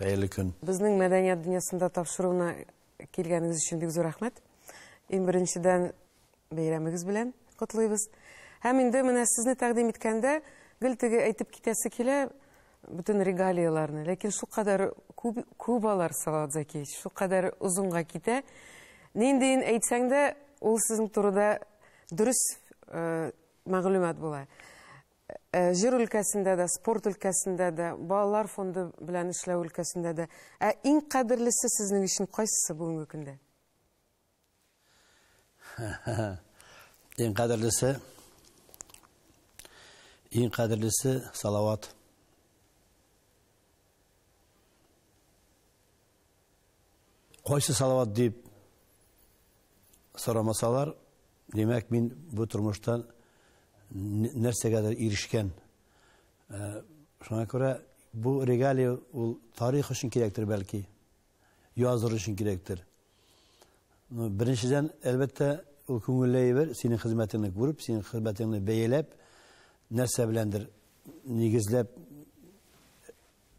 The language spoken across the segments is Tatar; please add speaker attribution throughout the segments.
Speaker 1: Хәерле көн. Безнең мәдәният дөньясында тапшыруына килгәнегез өчен бик зур рәхмәт. Иң беренчедән бәйрәмегез белән котлыйбыз. Һәм инде менә сезне тәкъдим иткәндә гел теге әйтеп китәсе килә бөтен регалияләрне. Ләкин шулкадәр күп күп алар Салават Закиевич, шулкадәр озынга китә. Ниндиен әйтсәң дә, ул сезнең турыда дөрес э, мәгълүмат була. Җыр өлкәсендә дә, спорт өлкәсендә дә, балалар фонды белән эшләү өлкәсендә дә. Ә иң кадерлесе сезнең өчен кайсысы бүгенге көндә? Иң кадерлесе, иң кадерлесе, Салават. Кайсы салават дип сорамасалар, димәк, мин бу тормышта нәрсәгәдер ирешкән. Э, шуңа күрә бу регалия ул тарих өчен кирәктер бәлки, языр өчен кирәктер. Ну, беренчедән, әлбәттә, ул күңелле әйбер, синең хезмәтеңне күреп, синең хезмәтеңне бәяләп, нәрсә беләндер нигезләп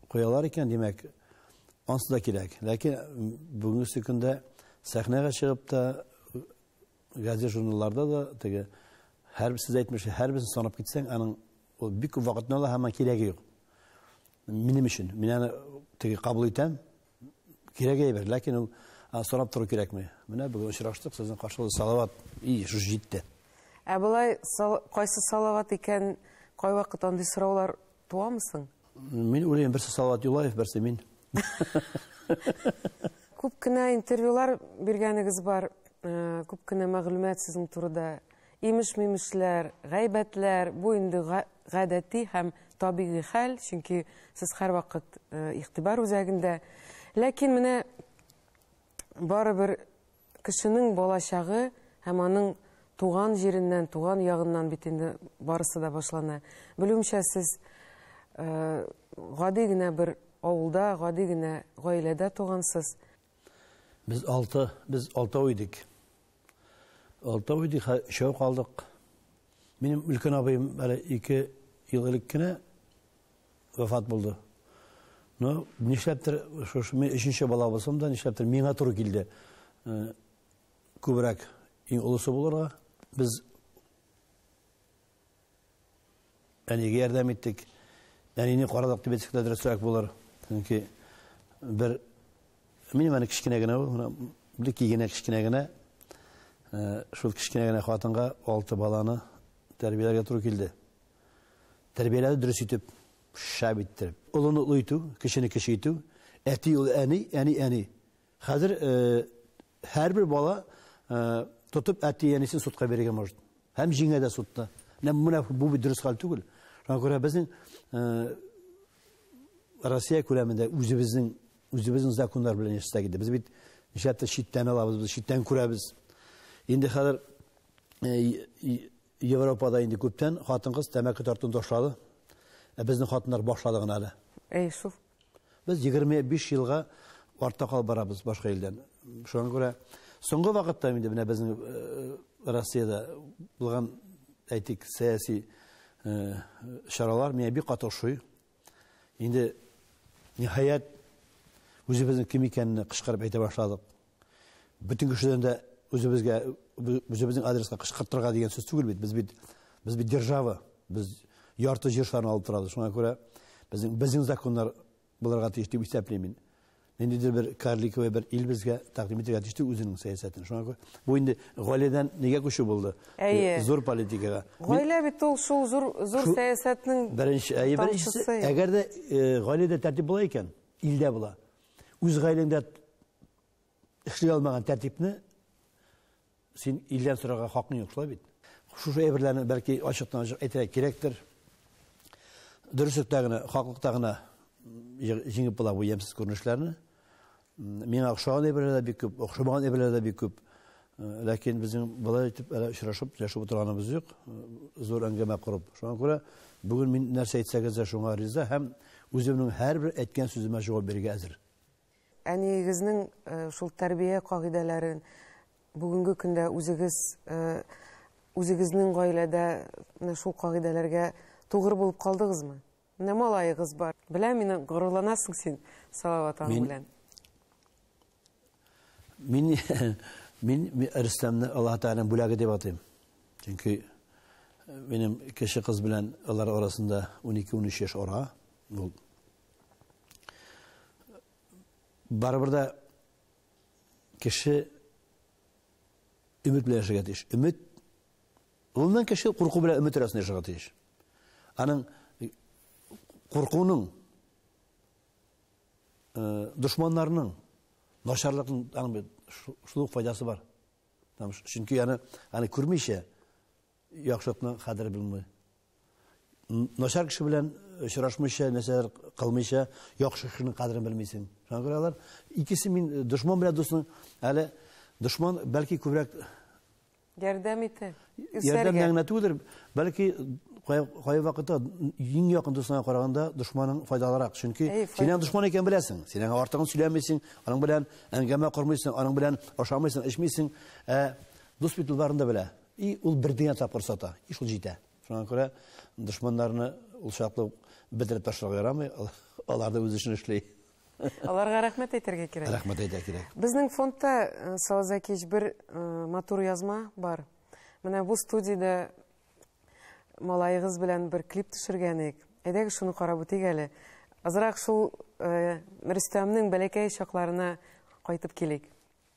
Speaker 1: куялар икән, димәк, ансы да кирәк. Ләкин бүгенге көндә сәхнәгә чыгып та, газет журналларда да теге һәр сез әйтмешли, һәрберсен санап китсәң, аның ул бик күп вакытны ала һәм кирәге юк. Минем өчен, мин аны теге кабул итәм, Кирәк әйбер, ләкин ул сорап тору кирәкми. Менә бүген очраштык, сезнең каршылыгы салават. И, шушы җитте. Ә болай кайсы салават икән, кайвакыт андый сораулар туамы соң? Мин уйлыйм, берсе Салават Юлаев, берсе мин. Күп кенә интервьюлар биргәнегез бар, э, күп кенә мәгълүмат сезнең турыда Имеш-мимешләр, гайбәтләр, бу инде гадәти һәм табигый хәл, чөнки сез һәрвакыт игътибар үзәгендә. Ләкин менә барыбер кешенең балачагы һәм аның туган җиреннән, туган ягыннан бит инде барысы да башлана. Белүемчә, сез гади генә бер авылда, гади генә гаиләдә тугансыз. Без алты, без алтау идек. Алты уйды өчәү калдык. Минем өлкән абыем әле ике ел элек кенә вафат булды. Ну, нишләптер, шушы мин өченче бала булсам да, нишләптер миңа туры килде. Күбрәк иң олысы булырга. Без Әнигә ярдәм иттек. Әнине карадык дип әйтсәк тә дөресрәк булыр. Чөнки бер минем әни кечкенә генә ул, бер кигенә кечкенә генә. Э, шул кечкенә генә хатынга алты баланы тәрбияләргә туры килде. Тәрбияләде дөрес итеп, шәп иттереп. Олыны олы итү, кешене кеше итү. Әти ул әни, әни әни. Хәзер һәрбер бала тотып әти-әнисен судка бирергә может. Һәм җиңә дә судта. Менә бу бит дөрес хәл түгел. Шуңа күрә безнең Россия күләмендә үзебезнең үзебезнең законнар белән яшәсәк иде. Без бит нишләптер читтән алабыз, без читтән күрәбез. Инде хәзер Европада инде күптән хатын-кыз тәмәке тартуны ташлады. Ә безнең хатыннар башлады гына әле. Әй шул. Без 25 елга артта калып барабыз башка илдән. Шуңа күрә соңгы вакытта инде менә безнең э, Россиядә булган әйтик сәяси э, чаралар миңа бик каты ошый. Инде ниһаять үзебезнең кем икәнне кычкырып әйтә башладык. Бөтен кешедән дә үзебезгә үзебезнең адреска кычкыртырга дигән сүз түгел бит. Без бит без бит держава. Без ярты җир шарын алып торабыз. Шуңа күрә безнең безнең законнар булырга тиеш дип исәплим мин. Ниндидер бер карликовый бер ил безгә тәкъдим итәргә тиеш үзенең сәясәтен. Шуңа күрә бу инде гаиләдән нигә күчү булды? Зур политикага. Гаилә бит ул шул зур зур сәясәтнең беренче әйе беренчесе. Әгәр дә гаиләдә тәртип була икән, илдә була. Үз гаиләңдә эшли алмаган тәртипне син илдән сорарга хакың юк, шулай бит? Шушы әйберләрне бәлки ачыктан ачык әйтергә кирәктер. Дөреслектә генә, хаклыкта гына җиңеп була бу ямьсез күренешләрне. Миңа охшаган әйберләр дә бик күп, охшамаган әйберләр дә бик күп. Ләкин безнең болай итеп әле очрашып яшәп утырганыбыз юк. Зур әңгәмә корып. Шуңа күрә бүген мин нәрсә әйтсәгез дә шуңа риза һәм үземнең һәрбер әйткән сүземә җавап бирергә әзер. Әниегезнең шул тәрбия кагыйдәләрен бүгенге көндә үзегез үзегезнең гаиләдә менә шул кагыйдәләргә тугры булып калдыгызмы? Менә малаегыз бар. Беләм мин, горурланасың син Салават аның белән. Мин мин Рөстәмне Аллаһ Тәгаләнең бүләге дип атыйм. Чөнки минем кеше кыз белән алар арасында 12-13 яшь ара. Ул барыбер дә кеше өмет белән яшәргә тиеш. Өмет Гомумән кеше курку белән өмет арасында яшәргә тиеш. Аның куркуның дошманнарның начарлыкның аның бит шул ук файдасы бар. Чөнки аны аны күрмичә яхшылыкның кадере белми. Начар кеше белән очрашмыйча, нәрсәләр кылмыйча, яхшы кешенең кадерен белмисең. Шуңа күрә алар икесе мин дошман белән дусның әле дошман бәлки күбрәк Ярдәм ите. Ярдәм генә түгелдер, бәлки кай вакытта иң якын дустыңа караганда дошманың файдалырак. Чөнки синең дошман икән беләсең. Син аңа артыгын сөйләмисең, аның белән әңгәмә кормыйсың, аның белән ашамыйсың, эчмисең. Ә дус бит ул барында белә. И ул бер дигән тапкыр сата, и шул җитә. Шуңа күрә дошманнарны ул чаклы бетереп ташларга ярамый. Алар да үз эшен эшли. Аларга рәхмәт әйтергә кирәк. Рәхмәт әйтә кирәк. Безнең фондта э, Сауза кич бер э, матур язма бар. Менә бу студиядә малаегыз белән бер клип төшергән идек. Әйдәгез шуны карап үтик әле. Азрак шул э, Рөстәмнең бәләкәй чакларына кайтып килик.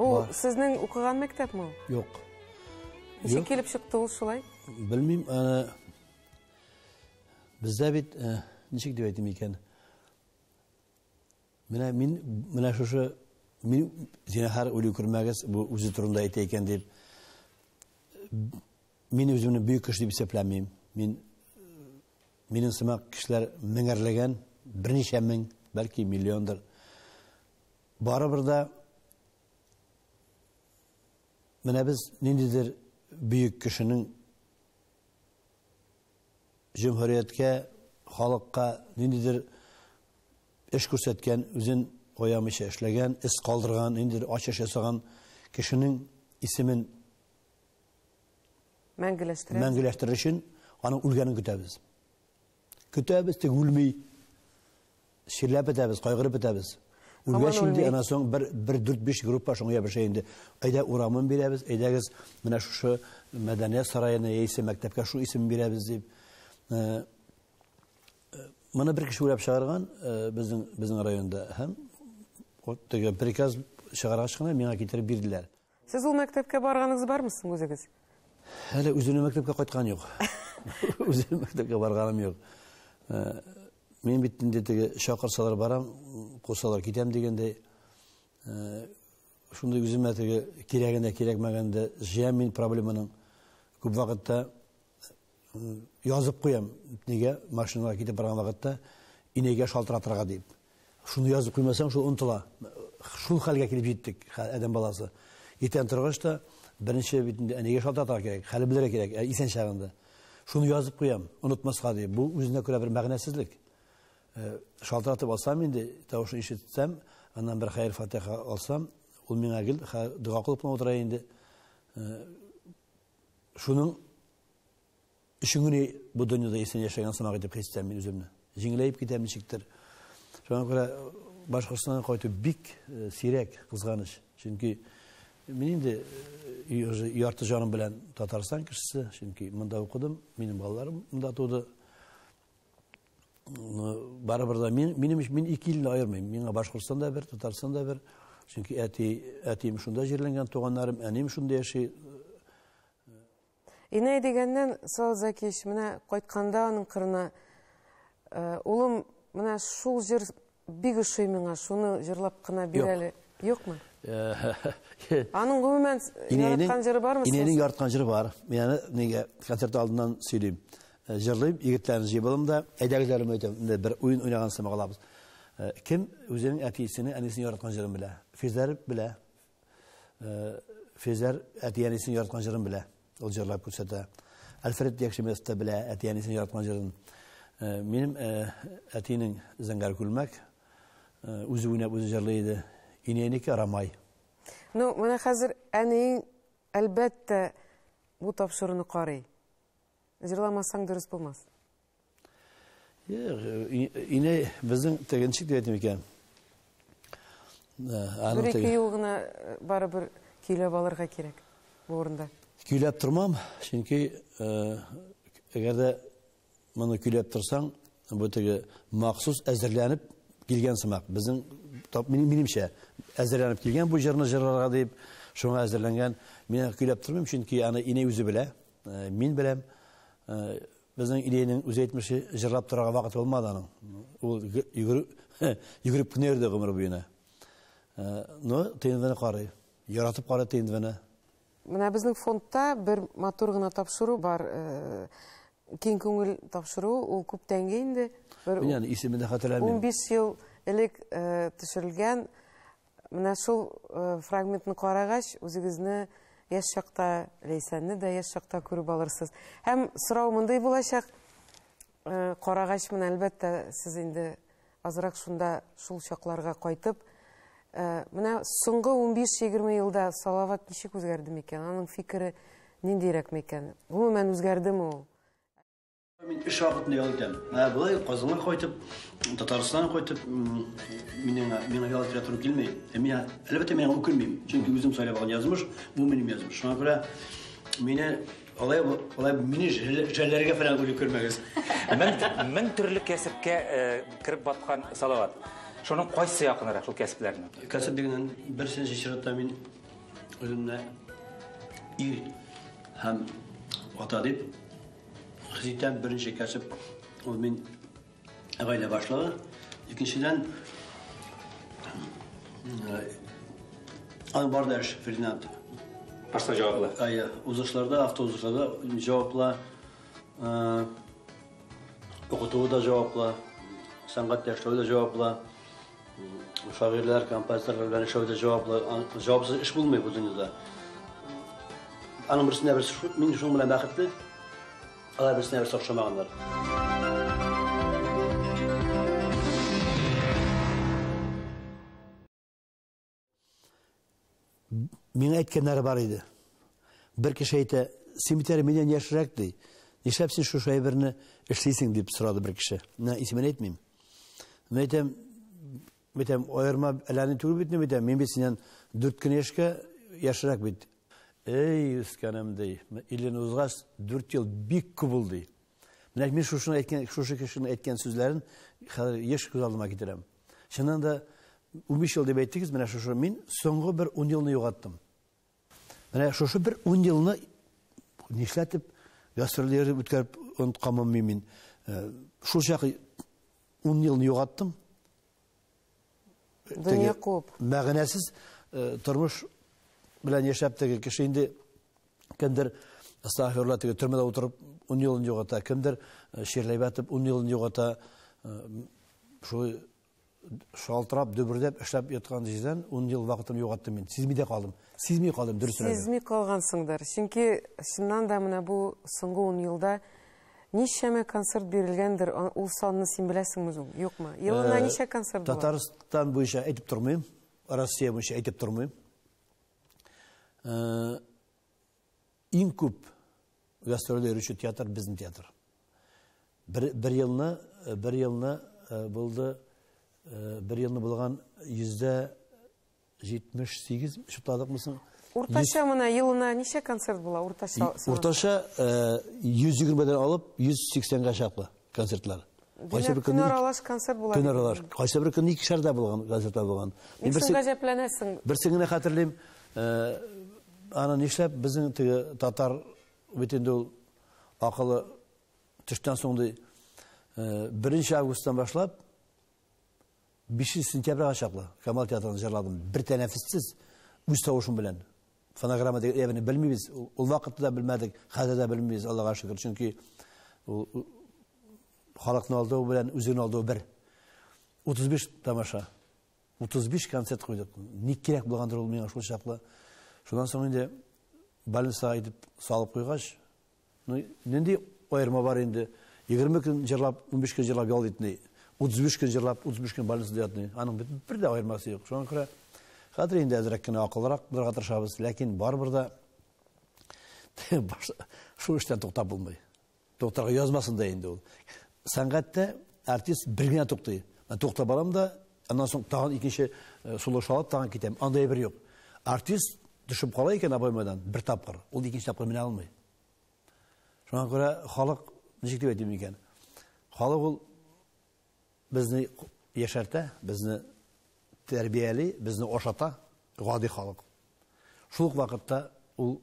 Speaker 1: Ул сезнең укыган мәктәпме ул? Юк. Ничек килеп чыкты ул шулай? Белмим, аны бездә бит э, ничек дип әйтим икән? Менә мин менә шушы мин зинахар үлү күрмәгез, бу үзе турында әйтә икән дип мин үземне бөек кеше дип исәпләмим. Мин минем сымак кешеләр меңәрләгән, берничә мең, бәлки миллиондыр. Барыбер дә менә без ниндидер бөек кешенең җөмһүрияткә, халыкка ниндидер эш күрсәткән, үзен оямыйча эшләгән, эз калдырган, ниндидер ачыш ясаган кешенең исемен мәңгеләштерер өчен аның үлгәнен көтәбез. Көтәбез, тик үлми. Чирләп бетәбез, кайгырып бетәбез. Үлгәч инде ана соң бер бер дүрт биш группа шуңа ябыша инде. Әйдә урамын бирәбез, әйдәгез менә шушы мәдәният сараена яисә мәктәпкә шул исем бирәбез дип. Э, э, моны бер кеше уйлап чыгарган э, безнең безнең районда һәм вот теге приказ чыгаргач кына миңа китереп бирделәр. Сез ул мәктәпкә барганыгыз бармы соң үзегез? Әле үземнең мәктәпкә кайткан юк. Үзем мәктәпкә барганым юк. Э, мин бит инде теге чакырсалар барам, кусалар китәм дигәндәй. Э, шундый үземә теге кирәгендә, кирәкмәгәндә җыям мин проблеманың. Күп вакытта Язып куям, нигә машинага китеп барган вакытта инәйгә шалтыратырга дип. Шуны язып куймасаң, шул онтыла. Шул хәлгә килеп җиттек, адәм баласы. Иртән торгач та беренче бит инде әнигә шалтыратырга кирәк, хәле белергә кирәк, ә исән чагында. Шуны язып куям, онытмаска дип. Бу үзенә күрә бер мәгънәсезлек. Э, шалтыратып алсам инде, тавышын ишетсәм, аннан бер хәер фатиха алсам, ул миңа гел дога кылып утыра инде. Э, Шуның өчен генә бу дөньяда исән яшәгән сымак итеп хистәм мин үземне. Җиңеләеп китәм ничектер. Шуңа күрә Башкортстанга кайту бик э, сирәк, кызганыч. Чөнки мин инде э, ярты җаным белән Татарстан кешесе, чөнки монда укыдым, минем балаларым монда туды. барыбер да мин минем өчен мин ике илне аермыйм миңа башкортстан да бер татарстан да бер чөнки әти әтием шунда җирләнгән туганнарым әнием шунда яши инәй дигәннән сал закич менә кайтканда аның кырына э, улым менә шул җыр Бик ошый миңа, шуны җырлап кына бир әле. Юкмы? Аның гомумән яраткан җыры бармы? Инәнең яраткан җыры бар. Мин аны нигә концерт алдыннан сөйлим. Э, җырлыйм, егетләрне җыйып алам да, әйдәгезләрем әйтәм, бер уен уйнаган сымак алабыз. Э, кем үзенең әтисенең, әнисенең яраткан җырын белә? Физләр белә. э, Фезәр әти-әнисен яраткан җырын белә. Ул җырлап күрсәтә. Альфред Якшемес тә белә әти-әнисен яраткан җырын. Э, минем э, әтинең Зәңгәр күлмәк үзе уйнап үзе җырлый иде. Инәйнеке Рамай. Ну, менә хәзер әниең әлбәттә бу тапшыруны карый. Җырламасаң дөрес булмас. Ине безнең тегенчек дип әйтим икән. Бер ике ел гына барыбер көйләп алырга кирәк бу урында. Көйләп тормам, чөнки әгәр дә моны көйләп торсаң, бу теге махсус әзерләнеп килгән сымак. Безнең минемчә әзерләнеп килгән бу җырны җырларга дип, шуңа әзерләнгән. Мин көйләп тормыйм, чөнки аны инәй үзе белә, мин беләм. Безнең Илиянең үзе әйтмешли, җырлап торырга вакыт булмады аның. Ул йөгереп кенә йөрде гомер буена. Ну, тендвены карый. Яратып карый тендвены. Менә безнең фондта бер матур гына тапшыру бар. Киң күңел тапшыру, ул күптәнге инде. Менә исемен дә хәтерләмим. 15 ел элек төшерелгән Менә шул фрагментны карагач, үзегезне яшь чакта, Ләйсәнне дә яшь чакта күреп алырсыз. Һәм сорау мондый булачак, карагач менә әлбәттә сез инде азрак шунда шул чакларга кайтып, менә соңгы 15-20 елда Салават ничек үзгәрде микән? Аның фикере ниндирәк микән? Гомумән үзгәрдеме ул? Мин эш вакытында ял итәм. Ә болай Казанга кайтып, Татарстанга кайтып, минең миңа ял итәргә туры килми. Ә миңа, әлбәттә, миңа үкенмим. Чөнки үзем сайлап алган язмыш, бу минем язмыш. Шуңа күрә мине алай алай мине жәлләргә фәлән күреп күрмәгез. Мең мең төрле кәсепкә э, кереп баткан Салават. Шуның кайсы якынрак шул кәсепләрнең? Кәсеп дигәннән берсенче чиратта мин үземне ир һәм ата дип Хезитән беренче кәсеп ул мин гаилә башлыгы. Икенчедән аның барда эш Фердинанд. Башта җаваплы. Ая, узышларда, автоузышларда җаваплы. Укытуы да җаваплы. Сәнгать яшәү да җаваплы. Шагыйрьләр, композиторлар белән эшләүдә җаваплы, җавапсыз эш булмый бу дөньяда. Аның берсенә берсе шу- мин шуның белән бәхетле, алар берсенә берсе охшамаганнар. Миңа әйткәннәре бар иде. Бер кеше әйтә, син бит әле миннән яшьрәк ди. Нишләп син шушы әйберне эшлисең дип сорады бер кеше. Менә исемен әйтмим. Мин әйтәм, әйтәм, аерма әләне түгел бит, әйтәм, мин бит синнән 4 кенә яшькә яшьрәк бит. Эй, үскәнем ди. 50 узгач 4 ел бик күп булды. Менә мин шушыны әйткән, шушы кешенең әйткән сүзләрен хәзер еш күз алдыма китерәм. Чыннан да 15 ел дип әйттегез, менә шушы мин соңгы бер 10 елны югаттым. Менә шушы бер 10 елны нишләтеп гастрольләр үткәреп онткамым мин. Э, шул чак 10 елны югаттым. Дөнья куып. Мәгънәсез э, тормыш белән яшәп теге кеше инде кемдер астагфирулла теге төрмәдә утырып ун елын югата кемдер э, чирләй бәтеп ун елын югата э, шулай шалтырап дөбердәп эшләп яткан җирдән ун ел вакытым югаттым мин сизми дә калдым сизми калдым дөресрәге сизми калгансыңдыр чөнки чыннан да менә бу соңгы ун елда Ничәмә концерт бирелгәндер, ул санны син беләсеңме үзең? Юкмы? Елына ничә концерт була? Татарстан буенча әйтеп тормыйм, Россия буенча әйтеп тормыйм. Иң күп гастрольдә йөрүче театр безнең театр. Бер, бер елны, бер елны булды, бер елны булган йөздә 78 чутладыкмы соң? Уртача менә елына ничә концерт була уртача? Уртача 120 дән алып 180 га чаклы концертлар. Кайсы бер көнне аралаш концерт була. Көн аралаш. Кайсы бер көнне икешәр дә булган концертлар булган. Мин берсе гаҗәпләнәсең. Берсен генә хәтерлим. Аны нишләп безнең теге татар бит инде ул акылы төштән соң ди. Беренче августтан башлап Бишенче сентябрьгә чаклы Камал театрында җырладым, бер тәнәфессез, үз тавышым белән. Фонограмма дигән әйберне белмибез, ул вакытта да белмәдек, хәзер дә белмибез, Аллага шөкер, чөнки халыкны алдау белән үзеңне алдау бер. 35 тамаша, 35 концерт куйдык. Ник кирәк булгандыр ул миңа шул чаклы. Шуннан соң инде больницага итеп салып куйгач, Ну, нинди аерма бар инде? 20 көн җырлап, 15 көн җырлап ял итми. 35 көн җырлап, 35 көн больницада ятмый. Аның бит бер дә аермасы юк. Шуңа күрә хәзер инде әзрәк кенә акыллырак булырга тырышабыз, ләкин барыбер дә шул эштән туктап булмый. Туктарга язмасын да инде ул. Сәнгатьтә артист бер генә туктый. Мен тукта барам да, Аннан соң тагын икенче сулыш алып тагын китәм. Анда әйбер юк. Артист төшеп кала икән обоймадан бер тапкыр, ул икенче тапкыр менә алмый. Шуңа күрә халык ничек дип әйтим икән? Халык ул безне яшәртә, безне тәрбияли, безне ашата, гади халык. Шул ук вакытта ул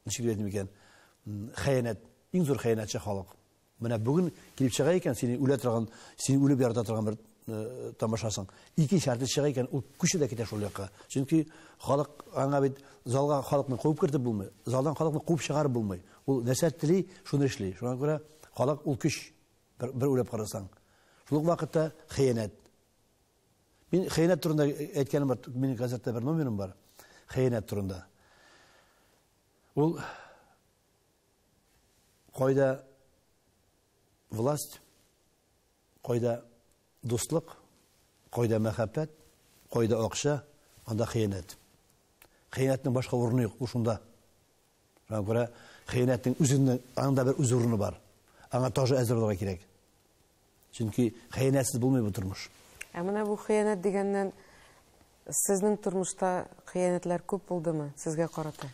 Speaker 1: ничек дип әйтим икән, хәянәт, иң зур хәянәтче халык. Менә бүген килеп чыга икән, сине үлә торган, сине үлеп ярата торган бер э, тамашасың. Икенче артист чыга икән, ул күчә дә китә шул якка. Чөнки халык аңа бит залга халыкны куып кертеп булмый, залдан халыкны куып чыгарып булмый. Ул нәрсә тели, шуны эшли. Шуңа күрә халык ул көч бер, бер үлеп карасаң. Шул вакытта хыянәт. Мин хыянәт турында әйткәнем бар, минем газетта бер номерым бар. Хыянәт турында. Ул кайда власть, кайда дуслык, кайда мәхәббәт, кайда акча, анда хыянәт. Хыянәтнең башка урыны юк, ул шунда. Шуңа күрә хыянәтнең үзенең аның да бер үз урыны бар. Аңа тоже әзер булырга кирәк. Чөнки хыянәтсез булмый бу тормыш. Ә менә бу хыянәт дигәннән сезнең тормышта хыянәтләр күп булдымы сезгә карата?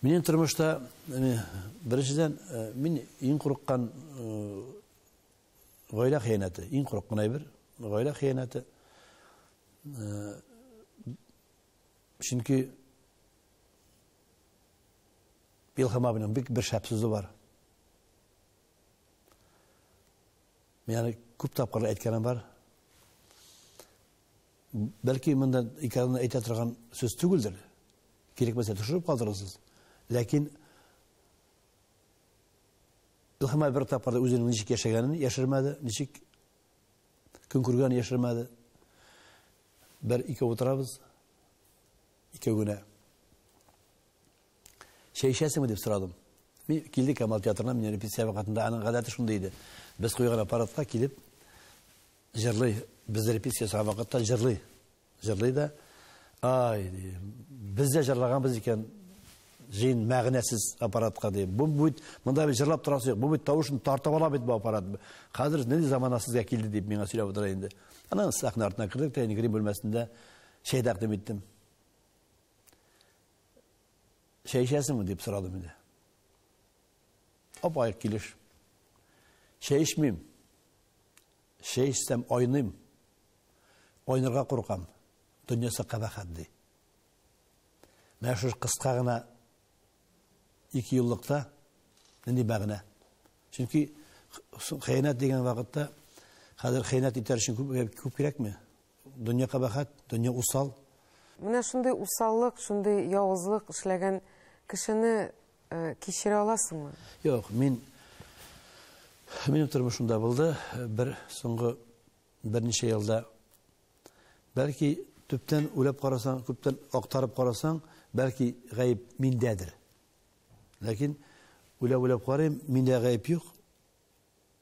Speaker 1: Минем тормышта э, беренчедән э, мин иң курыккан э, гаилә хыянәте, иң курыккан әйбер гаилә хыянәте. Чөнки Илһам абыйның бик бер шәп сүзе бар. Мин аны күп тапкырлар әйткәнем бар. Бәлки монда икәнен әйтә торган сүз түгелдер. Кирәкмәсә төшереп калдырырсыз. Ләкин Илһам абый бер тапкырда үзенең ничек яшәгәнен яшермәде, ничек көн күргәнен яшермәде. Бер ике утырабыз. икәүгенә. Чәй эчәсеңме, дип сорадым. Мин килде Камал театрына, мин репетиция вакытында аның гадәте шундый иде. Без куйган аппаратка килеп җырлый, без репетиция ясаган вакытта җырлый. Җырлый да, ай, ди, без дә җырлаганбыз икән җыен мәгънәсез аппаратка ди. Бу бит монда бит җырлап торасы юк. Бу бит тавышын тартып ала бит бу аппарат. Хәзер нинди замана сезгә килде дип миңа сөйләп утыра инде. Аннан сәхнә артына кердек тә, инде грим бүлмәсендә Чәй тәкъдим иттем. Чәй эчәсеңме дип сорадым инде. Апа, килеш. Чәй эчмим. Чәй эчсәм айныйм. Айнырга куркам. Дөньясы кабахат ди. Менә шушы кыска гына ике еллыкта нинди мәгънә? Чөнки хыянәт дигән вакытта хәзер хыянәт итәр өчен күп күп кирәкме? Дөнья кабахәт, дөнья усал. Менә шундый усаллык, шундый явызлык эшләгән кешене кичерә аласыңмы? Юк, мин минем тормышымда булды, бер соңгы берничә елда. Бәлки төптән үләп карасаң, күптән актарып карасаң, бәлки гаеп миндәдер. Ләкин үләп-үләп карыйм, миндә гаеп юк.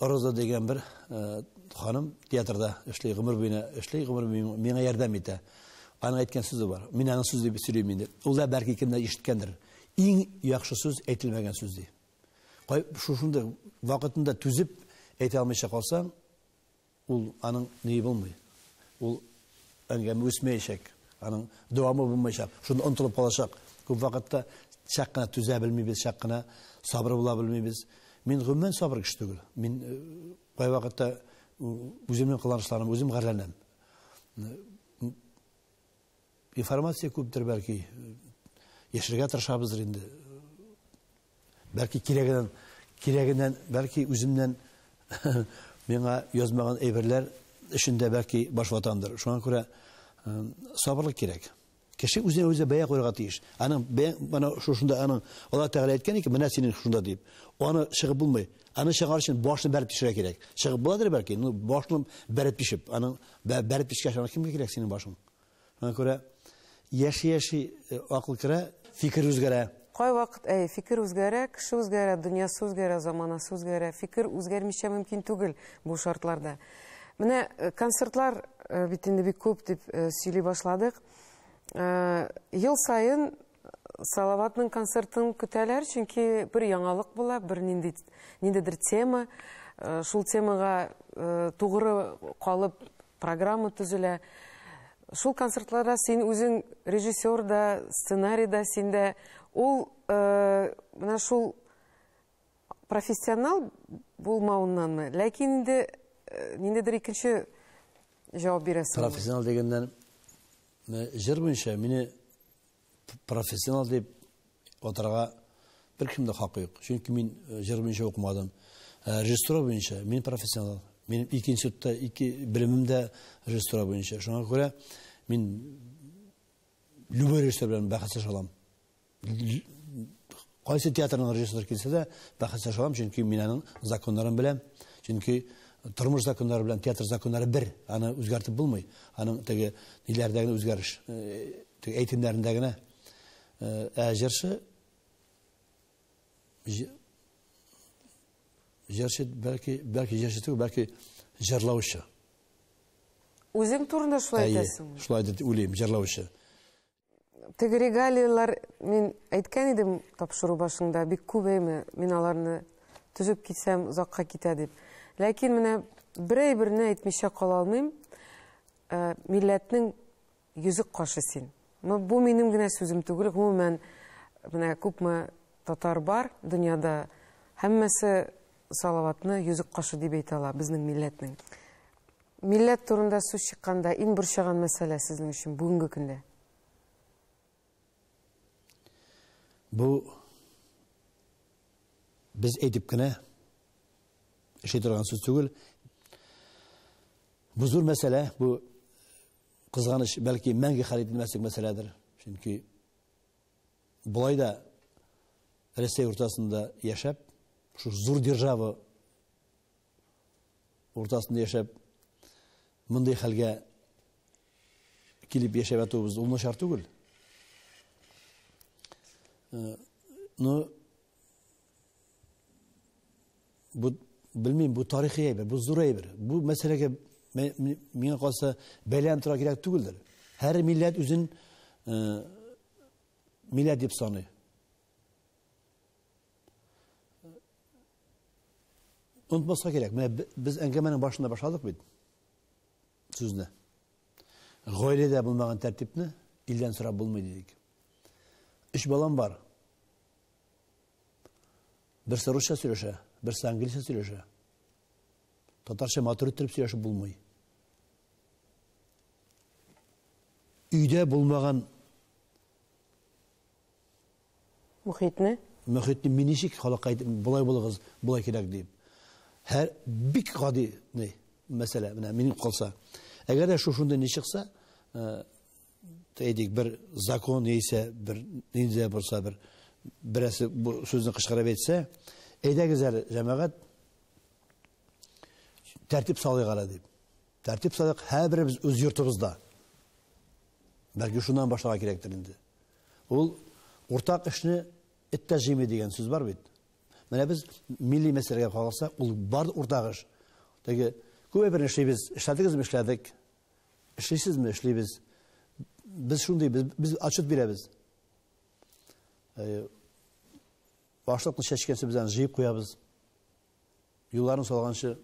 Speaker 1: Роза дигән бер ханым театрда эшли, гомер буена эшли, гомер буена миңа ярдәм итә. Аның әйткән сүзе бар. Мин аның сүз дип сөйлим инде. Ул да бәлки кемдә ишеткәндер. Иң яхшы сүз әйтелмәгән сүз ди. Кай шушында вакытында түзеп әйтә алмыйча калсаң, Ул аның ние булмый. Ул әңгәмә үсмәячәк. Аның дәвамы булмаячак. Шунда онтылып калачак. Күп вакытта чак кына түзә белмибез, чак кына сабыр була белмибез. Мин гомумән сабыр кеше түгел. Мин э, кай вакытта үземнең кыланышларым үзем гарьләнәм. Информация күптер бәлки. Яшергә тырышабыздыр инде. Бәлки кирәгеннән, кирәгеннән, бәлки үземнән миңа язмаган әйберләр эшендә бәлки баш ватандыр. Шуңа күрә э, сабырлык кирәк. Кеше үзенә үзе бәя куярга тиеш. Аның менә шушында аның Алла Тәгалә әйткән икән, менә синең шунда дип. Аны чыгып булмый. Аны чыгар өчен башны бәреп тишергә кирәк. Чыгып буладыр бәлки, ну башны бәреп тишеп, аның бәреп тишкәч, аны кемгә кирәк синең башың? Шуңа күрә яши-яши акыл керә, фикер үзгәрә. Кайвакыт, әйе, фикер үзгәрә, кеше үзгәрә, дөньясы үзгәрә, заманасы үзгәрә. Фикер үзгәрмичә мөмкин түгел бу шартларда. Менә концертлар бит инде бик күп дип сөйли башладык. Ел саен Салаватның концертын көтәләр, чөнки бер яңалык була, бер нинди ниндидер тема, шул темага тугры калып Программа төзелә. Шул концертларда син үзең режиссер да, сценарий да синдә. Ул э, менә шул профессионал булмауыннанмы, ләкин инде э, ниндидер икенче җавап бирәсең. Профессионал дигәннән җыр буенча мине профессионал дип атарга беркем дә хакы юк. Чөнки мин э, җыр буенча укымадым. Э, режиссура буенча мин профессионал. Минем ике институтта ике белемем дә режиссура буенча. Шуңа күрә мин любой режиссер белән бәхәсләшә алам. Кайсы театрның режиссеры килсә дә, бәхәсләшә алам, чөнки мин аның законнарын беләм. Чөнки тормыш законнары белән театр законнары бер, аны үзгәртеп булмый. Аның теге ниләрдә генә үзгәреш, теге әйтемнәрендә генә. Ә җырчы җырчы бәлки, бәлки җырчы түгел, бәлки җырлаучы. Үзең турында шулай әйтәсеңме? Шулай дип уйлыйм, җырлаучы. Теге регалияләр, мин әйткән идем тапшыру башында, бик күп әйме, мин аларны төзеп китсәм, озакка китә дип. Ләкин менә берәй берне әйтмичә кала алмыйм. Э, милләтнең йөзек кашы син. Бу минем генә сүзем түгел, гомумән, менә күпме татар бар дөньяда, һәммәсе Салаватны йөзек кашы дип әйтә ала безнең милләтнең. Милләт турында сүз чыкканда, иң борчыган мәсьәлә сезнең өчен бүгенге көндә? Бу без әйтеп кенә эшли торган сүз түгел. Бу зур мәсьәлә, бу кызганыч, бәлки мәңге хәл ителмәслек мәсьәләдер. Чөнки болай да Рәсәй уртасында яшәп, шул зур держава уртасында яшәп, мондый хәлгә килеп яшәп ятуыбыз ул начар түгел. Э, ну, бу, белмим, бу тарихи әйбер, бу зур әйбер. Бу мәсьәләгә миңа калса бәлән тора кирәк түгелдер. Һәр милләт үзен э, милләт дип саный. Онытмаска кирәк, менә без әңгәмәнең башында башладык бит сүзне. Гаиләдә булмаган тәртипне илдән сорап булмый дидек. Өч балам бар. Берсе русча сөйләшә, берсе английча сөйләшә. Татарча матур иттереп сөйләшеп булмый. Өйдә булмаган Мохитне? Мохитне мин ничек халыкка әйтим, болай булыгыз, болай кирәк дип. Һәр бик гади ни мәсьәлә менә минем калса. Әгәр дә шушында ни чыкса, э, әйтик, бер закон яисә бер нинди булса бер берәсе бу сүзне кычкырып әйтсә, әйдәгез әле, җәмәгать, тәртип салыйк әле дип. Тәртип салыйк һәрберебез үз йортыбызда. Бәлки шуннан башларга кирәктер инде. Ул уртак эшне эт тә җыймый дигән сүз бар бит. Менә без милли мәсьәләгә карасак, ул бар уртак эш. Теге күп әйберне эшлибез, эшләдегезме, эшләдек. Эшлисезме, эшлибез. Без шундый, без, без отчет бирәбез. Э, башлыкны чәчкәнче без аны җыеп куябыз. Юлларын салганчы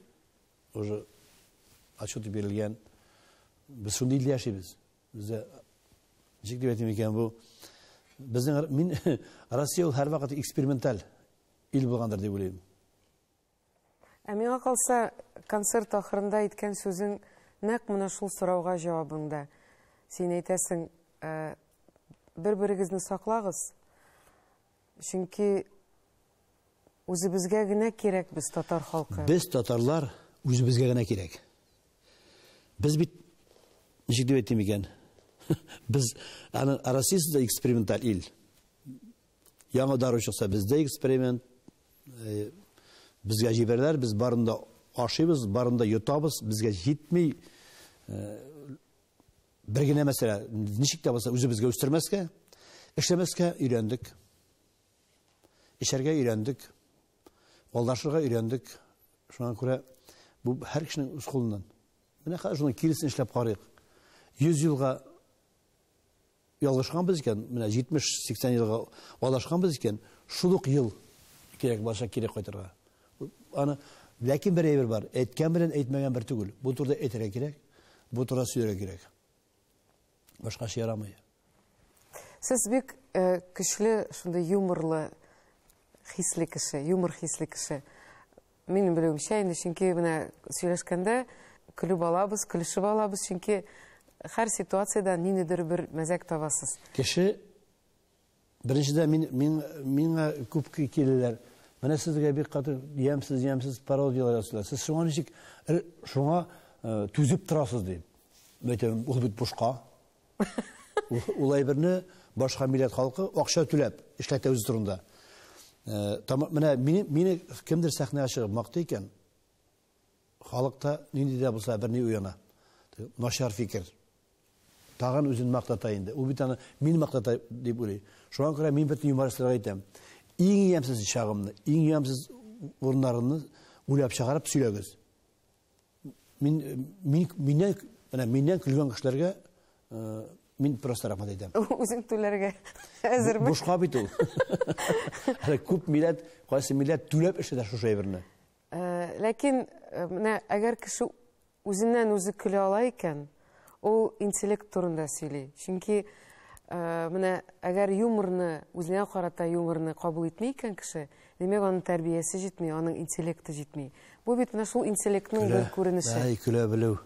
Speaker 1: уже отчет бирелгән. Без шундый илдә яшибез. Үзе ничек дип әйтим икән бу? Безнең мин Россия ул һәрвакыт эксперименталь ил булгандыр дип уйлыйм. Ә миңа калса, концерт ахырында әйткән сүзең нәкъ менә шул сорауга җавабыңда. Син әйтәсең, бер-берегезне саклагыз, Чөнки үзебезгә генә кирәк без татар халкы. Без татарлар үзебезгә генә кирәк. Без бит ничек дип әйтим икән? Без аны Россиясе дә эксперименталь ил. Яңа дару чыкса бездә эксперимент. Э, безгә җибәрәләр, без барында ашыйбыз, барында йотабыз, безгә җитми. Э, Бер генә мәсьәлә, ничек тә булса үзебезгә үстермәскә, эшләмәскә өйрәндек. Эчәргә өйрәндек. Алдашырга өйрәндек. Шуңа күрә бу һәр кешенең үз кулыннан. Менә хәзер шуны киресен эшләп карыйк. 100 елга ялгышканбыз икән, менә 70-80 елга алдашканбыз икән, шул ук ел кирәк булачак кире кайтырга. Аны ләкин бер әйбер бар. Әйткән белән әйтмәгән бер түгел. Бу турыда әйтергә кирәк. Бу турыда сөйләргә кирәк. Башкача ярамый. Сез бик э, көчле шундый юморлы хисле кеше, юмор хисле кеше. Минем белүемчә инде, чөнки менә сөйләшкәндә көлеп алабыз, көлешеп алабыз, чөнки һәр ситуациядән ниндидер бер мәзәк табасыз. Кеше Беренчедә мин мин миңа күп килеләр. Менә сезгә бик каты ямсыз ямсыз пародияләр ясыйлар. Сез шуңа ничек шуңа түзеп торасыз дип. Мәйтәм, ул бит бушка. Ул әйберне башка милләт халкы акча түләп эшләтә үзе турында. Менә мине кемдер сәхнәгә чыгып мактый икән. Халыкта нинди дә булса берни уяна. Начар фикер. Тагын үзен мактата инде. Ул бит аны мин мактата дип уйлый. Шуңа күрә мин бөтен юмористларга әйтәм. Иң ямьсез чагымны, иң ямьсез урыннарымны уйлап чыгарып сөйләгез. Мин мин миннән, менә миннән көлгән кешеләргә Мин просто рахмат әйтәм. Үзең түләргә әзерме? Бушка бит ул. Әле күп милләт, кайсы милләт түләп эшләтә шушы әйберне. Э, ләкин э, менә әгәр кеше үзеннән үзе көлә ала икән ул интеллект турында сөйли чөнки э, менә әгәр юморны үзенә карата юморны кабул итми икән кеше демәк аның тәрбиясе җитми аның интеллекты җитми бу бит менә шул интеллектның бер күренеше көлә белү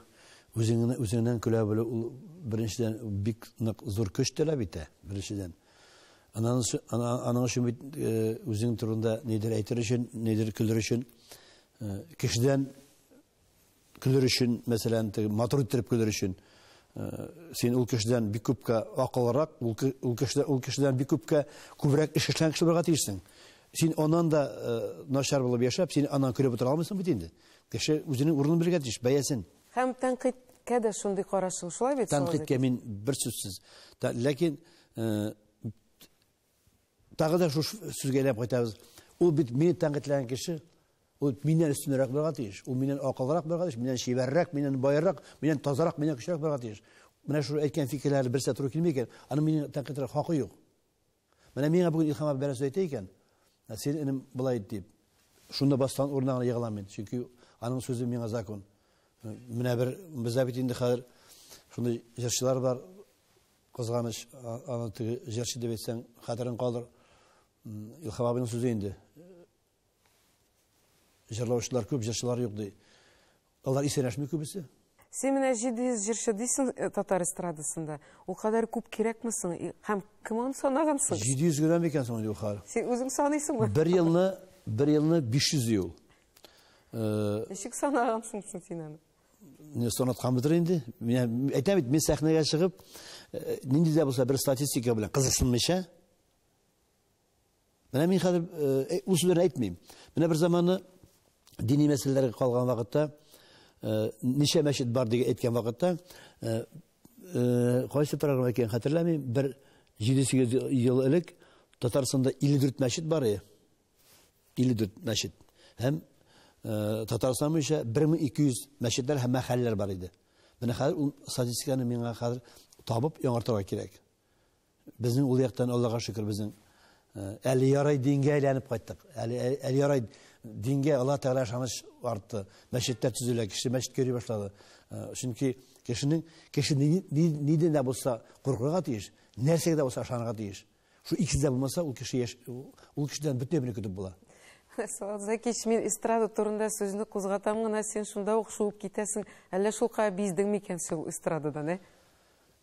Speaker 1: үзеңнән көлә белү ул беренчедән бик нык зур көч таләп итә беренчедән Аның өчен бит үзең турында нидер әйтер өчен, нидер көлер өчен, кешедән көлер өчен, мәсәлән, матур иттереп көлер өчен, син ул кешедән бик күпкә акыллырак, ул кешедән, ул кешедән бик күпкә күбрәк эш эшләгән кеше булырга тиешсең. Син аннан да начар булып яшәп, син аннан көлеп утыра алмыйсың бит инде. Кеше үзенең урынын белергә тиеш, бәясен. Һәм тәнкыйтькә дә шундый карашың, шулай бит? Тәнкыйтькә мин бер сүзсез. Ләкин тагы да шушы сүзгә әйләнеп кайтабыз. Ул бит мине тәнкыйтьләгән кеше, ул миннән өстенрәк булырга тиеш, ул миннән акыллырак булырга тиеш, миннән чибәррәк, миннән байрак, миннән тазарак, миннән көчлерәк булырга тиеш. Менә шул әйткән фикерләре берсе туры килми икән, аны мине тәнкыйтьләргә хакы юк. Менә миңа бүген Илхам абый берәрсе әйтә икән, ә син энем былай ит дип. Шунда бастан урынына гына егылам мин, чөнки аның сүзе миңа закон. Менә бер бездә бит инде хәзер шундый җырчылар бар, кызганыч, аны теге җырчы дип әйтсәң, хәтерен калдыр. Илхам абыйның сүзе инде. Җырлаучылар күп, җырчылар юк, ди. Алар исәнләшми күбесе. Син менә 700 җырчы дисең э, татар эстрадасында. Ул кадәр күп кирәкме соң? Һәм кем аны санаган соң? 700 генә микән соң инде хәл? Син үзең саныйсыңмы? Бер елны, бер елны 500 ел. Э, Ничек санагансың соң син аны? Не санатканбыдыр инде. Мин әйтәм бит, мин сәхнәгә чыгып, э, нинди дә булса бер статистика белән кызыксынмыйча, Менә мин хәзер э, ул сүзләрне әйтмим. Менә бер заманы дини мәсьәләләргә калган вакытта э, ничә мәчет бар дип әйткән вакытта э, кайсы программа икәнен хәтерләмим, бер 7-8 ел элек Татарстанда 54 мәчет бар иде. 54 мәчет. Һәм Татарстан буенча 1200 мәчетләр һәм мәхәлләләр бар иде. Менә хәзер ул статистиканы миңа хәзер табып яңартырга кирәк. Безнең ул яктан Аллага шөкер безнең әле ярай дингә әйләнеп кайттык. Әле әле ярай дингә Алла Тәгалә ышаныч артты. Мәчетләр төзелә, кеше мәчеткә йөри башлады. Чөнки кешенең кеше нидән дә булса куркырга тиеш, нәрсәгә дә булса ышанырга тиеш. Шу икесе дә булмаса, ул кеше яш ул кешедән бөтен бер көтеп була. Салат Закич, мин эстрада турында сүзне кузгатам гына, син шунда ук шуып китәсең. Әллә шулкая биздең микән син ул эстрададан, ә?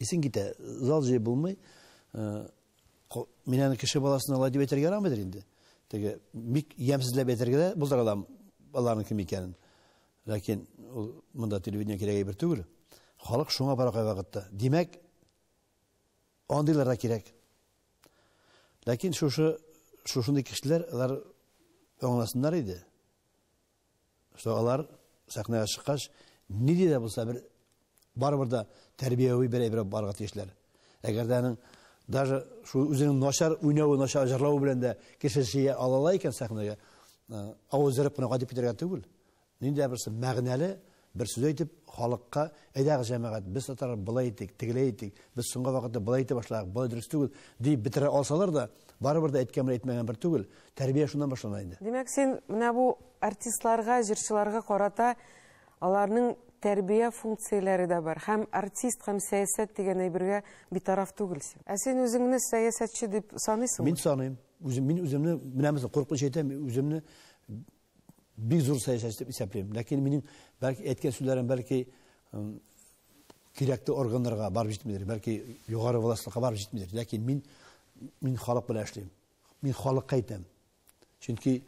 Speaker 1: Исең китә, зал җыеп булмый. Мин аны кеше баласына алай дип әйтергә ярамыйдыр инде. Теге бик ямьсезләп әйтергә дә булдыра алам аларның кем икәнен. Ләкин ул монда телевидение кирәк әйбер түгел. Халык шуңа бара кай вакытта. Димәк, андыйлар да кирәк. Ләкин шушы шушындый кешеләр алар аңласыннар иде. Что алар сәхнәгә чыккач, нинди дә булса бер барыбер дә тәрбияви бер әйбер барга тиешләр. Әгәр дә аның даже шул үзенең начар уйнавы, начар җырлавы белән дә кеше җыя алала икән сәхнәгә, авызырып кына кайтып китәргә түгел. Нинди дә берсе мәгънәле, Бер сүз әйтеп, халыкка, әйдәгез, җәмәгать, без татарлар болай иттек, тегеләй иттек, без соңгы вакытта болай итә башладык, болай дөрес түгел, дип бетерә алсалар да, барыбер дә әйткән белән әйтмәгән бер түгел, тәрбия шуннан башлана инде. Димәк, син менә бу артистларга, җырчыларга карата аларның тәрбия функцияләре дә бар һәм артист һәм сәясәт дигән әйбергә битараф түгелсең. Ә син үзеңне сәясәтче дип саныйсыңмы? Мин саныйм. Үзем, мин үземне, менә мисал, курыкмыйча әйтәм, үземне бик зур сәясәтче дип исәплим. Ләкин минем бәлки әйткән сүзләрем бәлки кирәкле органнарга барып җитмидер, бәлки югары властька барып җитмидер. Ләкин мин мин халык белән эшлим. Мин халыкка әйтәм. Чөнки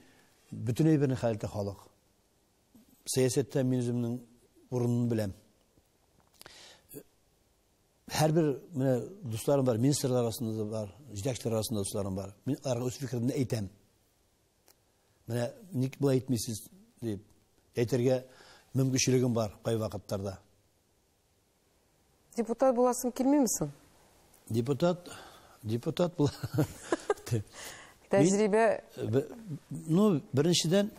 Speaker 1: бөтен әйберне хәл итә халык. Сәясәттә мин үземнең урынын беләм. Һәрбер менә дусларым бар, министрлар арасында да бар, җитәкчеләр арасында дусларым бар. Мин аларга үз фикеремне әйтәм. Менә ник болай әйтмисез дип әйтергә мөмкинчелегем бар кай вакытларда. Депутат буласың килмиме соң? Депутат, депутат була. Тәҗрибә Ну, беренчедән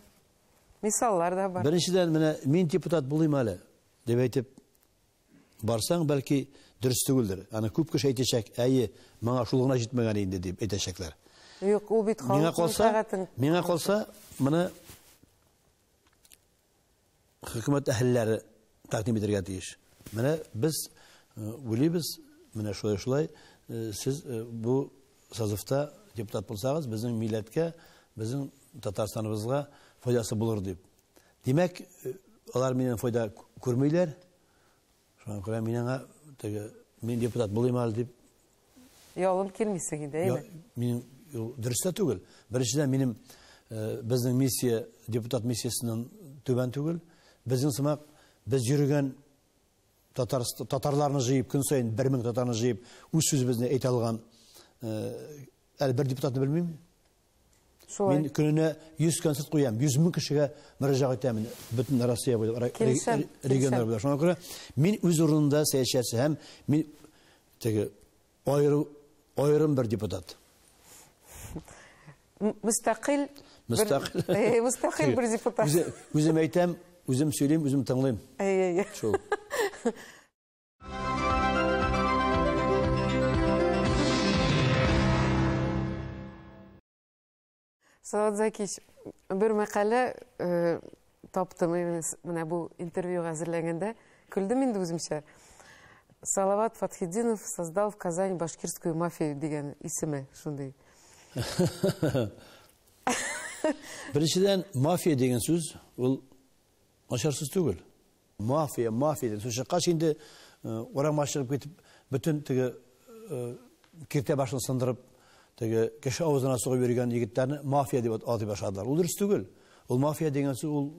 Speaker 1: мисаллар да бар. Беренчедән менә мин депутат булыйм әле дип әйтеп Барсаң, бәлки, дөрес түгелдер. Аны күп кеше әйтәчәк, әйе, моңа шул гына җитмәгән инде, дип әйтәчәкләр. Юк, ул бит Миңа калса, миңа калса, моны хөкүмәт әһелләре тәкъдим итәргә тиеш. Менә без уйлыйбыз, менә шулай-шулай, сез бу созывта депутат булсагыз, безнең милләткә, безнең Татарстаныбызга файдасы булыр дип. Димәк, алар миннән файда күрмиләр. Шуңа күрә мин аңа теге мин депутат булыйм әле дип ялым килмисең инде, әйме? Мин дөрес тә түгел. Беренчедән минем э, безнең миссия депутат миссиясеннән түбән түгел. Безнең сымак без йөргән татар татарларны җыеп көн саен 1000 татарны җыеп үз сүзебезне әйтә алган э, әле бер депутатны белмим. Шулай. Мин көненә 100 концерт куям, 100 мең кешегә мөрәҗәгать итәмен, бөтен Россия буйлап, регионнар буйлап. Шуңа күрә мин үз урынында сәясәтче һәм мин теге аерым аерым бер депутат. Мустакил Мустакил Мустакил бер депутат. Үзем әйтәм, үзем сөйлим, үзем тыңлыйм. Әй әй. Шул. Салат Закич, бер мәкалә э, таптым менә бу интервьюга әзерләгәндә. Көлдем инде үземчә. Салават Фатхидинов создал в Казань башкирскую мафию дигән исеме шундый. Беренчедән, мафия дигән сүз ул начар сүз түгел. Мафия, мафия дип сүз чыккач инде урамга чыгып китеп, бөтен теге киртә башын сындырып, теге кеше авызына сугып йөргән егетләрне мафия дип атый башладылар. Ул дөрес түгел. Ул мафия дигән сүз ул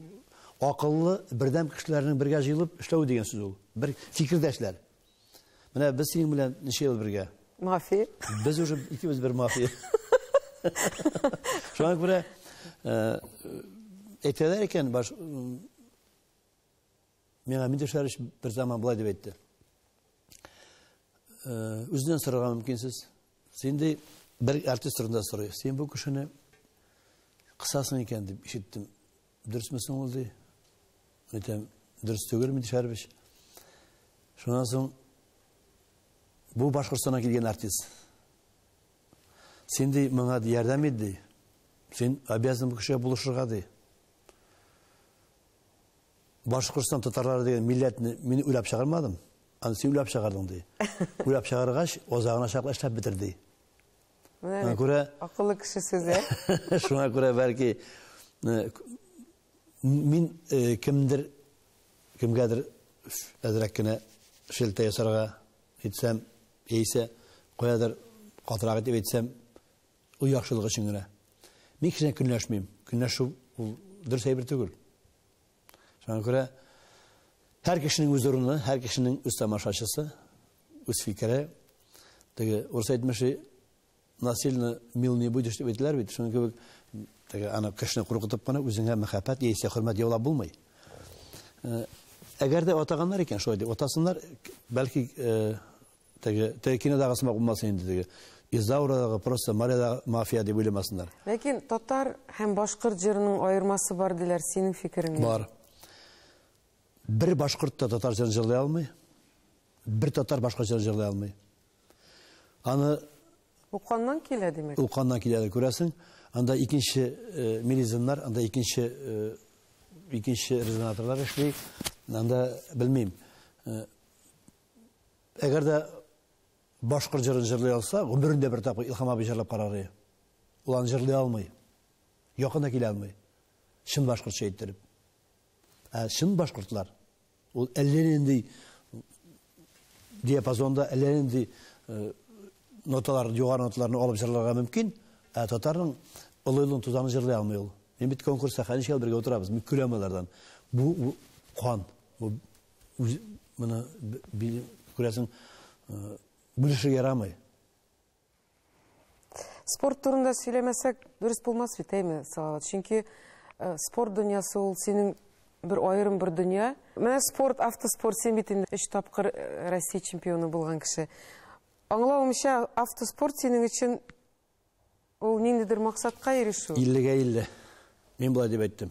Speaker 1: акыллы, бердәм кешеләрнең бергә җыелып эшләү дигән сүз ул. Бер фикердәшләр. Менә без синең белән ничә ел бергә? Мафия. Без уже икебез бер мафия. Шуңа күрә әйтәләр икән, баш Миңа Мидер Шәриш бер заман былай дип әйтте. Э, үзеннән сорарга мөмкинсез. Син ди бер артист турында сорый. Син бу кешене кысасың икән дип ишеттем. Дөресме соң ул ди? Әйтәм, дөрес түгел Мидер Шәриш. Шуннан соң бу Башкортстаннан килгән артист. Син ди моңа ярдәм ит ди. Син обязан бу кешегә булышырга ди. Башкортстан татарлары дигән милләтне мин уйлап чыгармадым. Аны син уйлап чыгардың ди. Уйлап чыгаргач, озагына чаклы эшләп бетерде. Менә күрә акыллы кеше сүзе. Шуңа күрә бәлки мин кемдер кемгәдер әзрәк кенә шелтә ясарга әйтсәм, яисә каядыр катырак итеп әйтсәм, Ул яхшылык өчен генә. Мин кеше көнләшмим. Көнләшү ул дөрес әйбер түгел. Шуңа күрә һәр кешенең үз урыны, һәр кешенең үз тамашачысы, үз фикере. Теге урыс әйтмеше насильно мил не будешь дип әйтәләр бит. Шуңа кебек теге аны кешене куркытып кына үзеңә мәхәббәт яисә хөрмәт яулап булмый. Әгәр дә атаганнар икән шулай дип атасыннар, бәлки Теге, теге кинодагы сымак булмасын инде теге. Изаурадагы просто моряда мафия дип уйламасыннар. Ләкин татар һәм башкорт җырының аермасы бар диләр, синең фикерең ничек? Бар. Бер башкорт та татар җырын җырлый алмый. Бер татар башкорт җырын җырлый алмый. Аны Уканнан килә, димәк. Уканнан килә, күрәсең. Анда икенче э, мелизмнар, анда икенче э, икенче резонаторлар эшли. Анда белмим. Э, Әгәр дә башкорт җырын җырлый алса, гомерендә бер тапкыр Илхам абый җырлап карар иде. Ул аны җырлый алмый. Якына килә алмый. Чын башкортча әйттереп. Ә чын башкортлар ул әллә нинди диапазонда, әллә нинди э, ноталар, югары ноталарны алып җырларга мөмкин, ә татарның олылын тузаны җырлый алмый ул. Мин бит конкурста хәнишел бергә утырабыз, мин көләм алардан. Бу кан, бу үз моны күрәсең бүлешергә ярамый спорт турында сөйләмәсәк дөрес булмас бит әйме салават чөнки э, спорт дөньясы ул синең бер аерым бер дөнья менә спорт автоспорт син бит инде өч тапкыр э, россия чемпионы булган кеше аңлавымча автоспорт синең өчен Ул ниндидер максатка ирешү. Иллегә илле. Мин болай дип әйттем.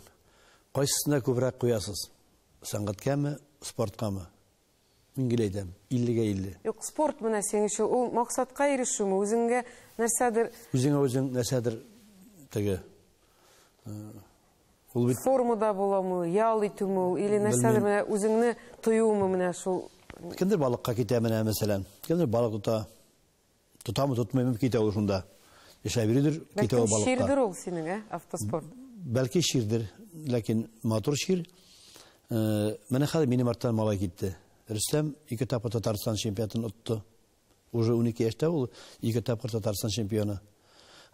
Speaker 1: Кайсысына күбрәк куясыз? Сәнгатькәме, спорткамы? Мин гел әйтәм, иллегә илле. Юк, спорт менә синең өчен ул максатка ирешүме, үзеңгә нәрсәдер... Үзеңә үзең нәрсәдер теге... Ул бит... Формада буламы, ял итүме ул, или нәрсәдер менә үзеңне тоюмы менә шул... Кемдер балыкка китә менә, мәсәлән. Кемдер балык тота. Тотамы, тотмыймы, китә ул шунда. Эшләп йөридер, китә ул балыкка. Бәлки чирдер ул синең, ә, автоспорт? Бәлки чирдер, ләкин матур чир. Э, менә хәзер минем арттан малай китте. Рөстәм ике тапкыр Татарстан чемпионатын отты. Уже 12 яшьтә ул ике тапкыр Татарстан чемпионы.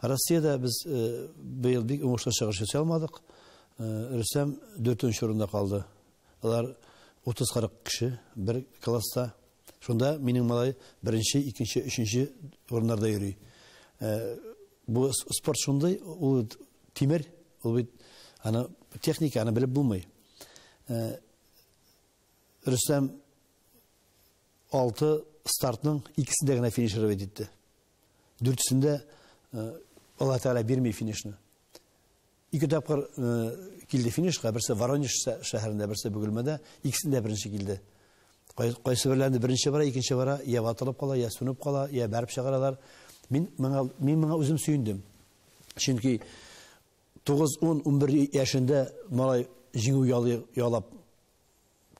Speaker 1: Россиядә без э, быел бик уңышлы чыгыш ясый алмадык. Э, Рөстәм 4 урында калды. Алар 30-40 кеше бер класста Шунда минем малай беренче, икенче, өченче урыннарда йөри. Э, бу спорт шундый, ул тимер, ул бит аны техника аны белеп булмый. Э, Рөстәм алты стартның икесе дә генә финишировать итте. Дүртесендә э, Алла Тәгалә бирми финишны. Ике тапкыр килде финишка, берсе Воронеж шәһәрендә, берсе Бөгелмәдә, икесендә беренче килде. Кайсы берләрендә беренче бара, икенче бара, я ватылып кала, я сүнеп кала, я бәреп чыгаралар. Мин моңа мин моңа үзем сөендем. Чөнки 9-10-11 яшендә малай җиңү ялап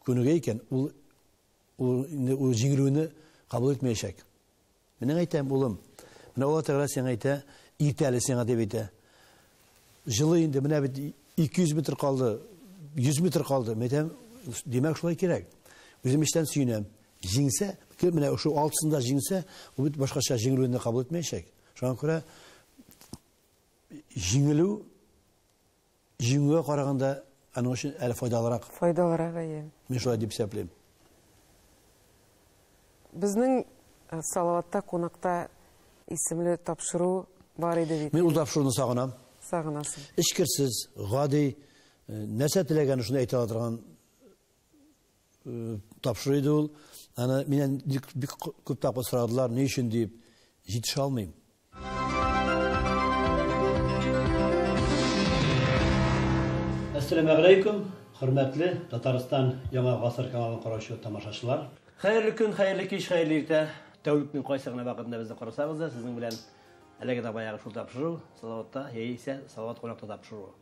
Speaker 1: күнегә икән, ул ул инде ул җиңелүне кабул итмәячәк. Менә әйтәм, улым, менә Алла Тәгалә сиңа әйтә, иртә әле сиңа дип әйтә. Җылы инде, менә бит 200 метр калды, 100 метр калды. Мин әйтәм, димәк шулай кирәк. Үзем эчтән сөенәм. Җиңсә, кем менә шул алтысында җиңсә, ул бит башкача җиңелүне кабул итмәячәк. Шуңа күрә җиңелү Җиңүгә караганда аның өчен әле файдалырак. Файдалырак, әйе. Мин шулай дип исәплим. Безнең э, Салаватта кунакта исемле тапшыру бар иде бит. Мин ул тапшыруны сагынам. Сагынасың. Эчкерсез, гади, э, нәрсә теләгәнен шуны әйтә ала торган э, тапшыру иде ул. Аны миннән бик күп тапкыр сорадылар, ни өчен дип, җитешә алмыйм. Әссәламү галәйкүм, хөрмәтле Татарстан Яңа гасыр каналын караучы тамашачылар. Хәерле көн, хәерле кич, хәерле иртә. Тәүлекнең кайсы гына вакытында безне карасагыз да, сезнең белән әлеге дә баягы шул тапшыру, Салаватта яисә Салават кунакта тапшыруы.